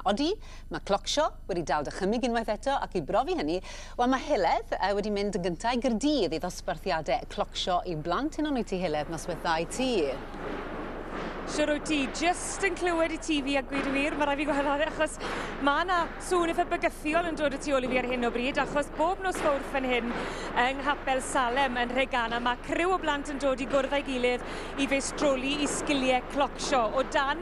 Odi, mae Clockshaw wedi dal dychymyg unwaith eto ac i brofi hynny, wel mae Heledd wedi mynd yn gynta' i Gaerdydd i ddosbarthiade Clockshaw i blant heno nwyt ti Heledd noswaith dda i ti. Siwr wyt ti, just yn clywed i ti fi a gwyd y wir, mae rai fi gweld ar achos mae yna sŵn eitha bygythiol yn dod y tu ôl i fi ar hyn o bryd achos bob nos fawrth fan hyn yng Nghapel Salem yn Rhegana mae criw o blant yn dod i gwrdd â'i gilydd i feistroli i sgiliau clocsio o dan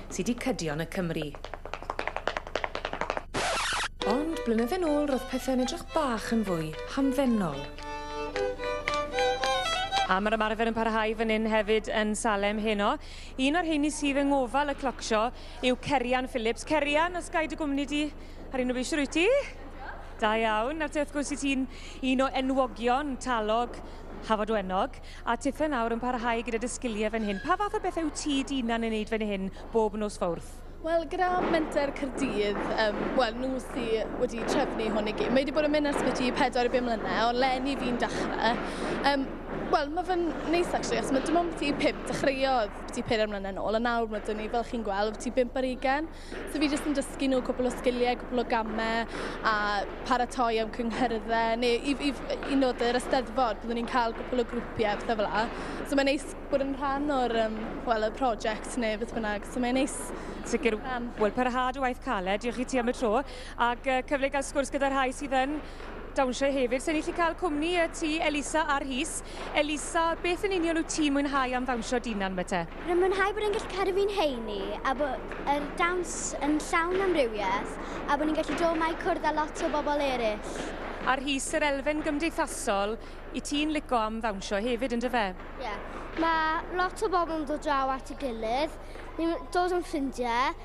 sy 'di cydion y Cymry. Ond blynydde'n ôl ro'dd pethe'n edrych bach yn fwy hamddenol. A ma'r ymarfer yn parhau fan 'yn hefyd yn Salem heno. Un o'r rheini sydd yng ngofal y Cloc Sho yw Cerian Phillips. Cerian, os gai dy gwmni di ar un o fi, shwt wyt ti? Da iawn. Nawr te wrth gwrs i ti'n un o enwogion talog Hafod Wenog. A tithe nawr yn parhau gyda dy sgiliau fan hyn. Pa fath o bethau wyt ti dy unan yn neud fan hyn bob nos fawrth? Wel, gyda Menter Cyrdydd, um, wel, nhw sy wedi trefnu hwn i gyd. Mae wedi bod yn mynd ar sbyty i 4 i 5 mlynedd, ond lenni fi'n dechrau. Um, wel, mae fe'n neis, actually, achos mae dim ond byti 5 dechreuodd byti 4 mlynedd nôl, a nawr mae dyn ni, fel chi'n gweld, byti 5 ar 20. So fi jyst yn dysgu nhw cwpl o sgiliau, cwpl o gamau a paratoi am cynghyrddau neu i, i, i nod yr ysteddfod, byddwn ni'n cael cwpl o grwpiau a pethau fel la. So mae'n neis bod yn rhan o'r um, well, y prosiect neu beth bynnag. So mae'n neis. Sicr, wel, parhad o waith caled, diolch i ti am y tro, ac uh, cyfle i gael sgwrs gyda'r rhai sydd yn dawnsio hefyd. So ni chi cael cwmni y ti, Elisa a Rhys. Elisa, beth yn union wyt ti'n mwynhau am ddawnsio dinan, Mete? Rwy'n mwynhau bod yn gallu cadw fi'n heini a bod yr dawns yn llawn amrywiaeth a bod ni'n gallu dod mae cwrdd â lot o bobl eraill. A Rhys, yr elfen gymdeithasol, i ti'n lico am ddawnsio hefyd yn dyfe? Ie. Yeah. Mae lot o bobl yn dod draw at y gilydd, ni'n dod yn ffrindiau,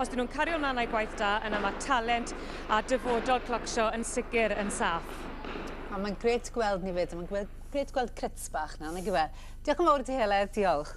Os dyn nhw'n cario mlaen â'i gwaith da, yna mae talent a dyfodol Clockshaw yn sicr yn saff. A mae'n grêt gweld ni 'fyd a mae'n gweld grêt gweld Crits bach nawr nagyfe? Diolch yn fawr i ti Heledd, diolch.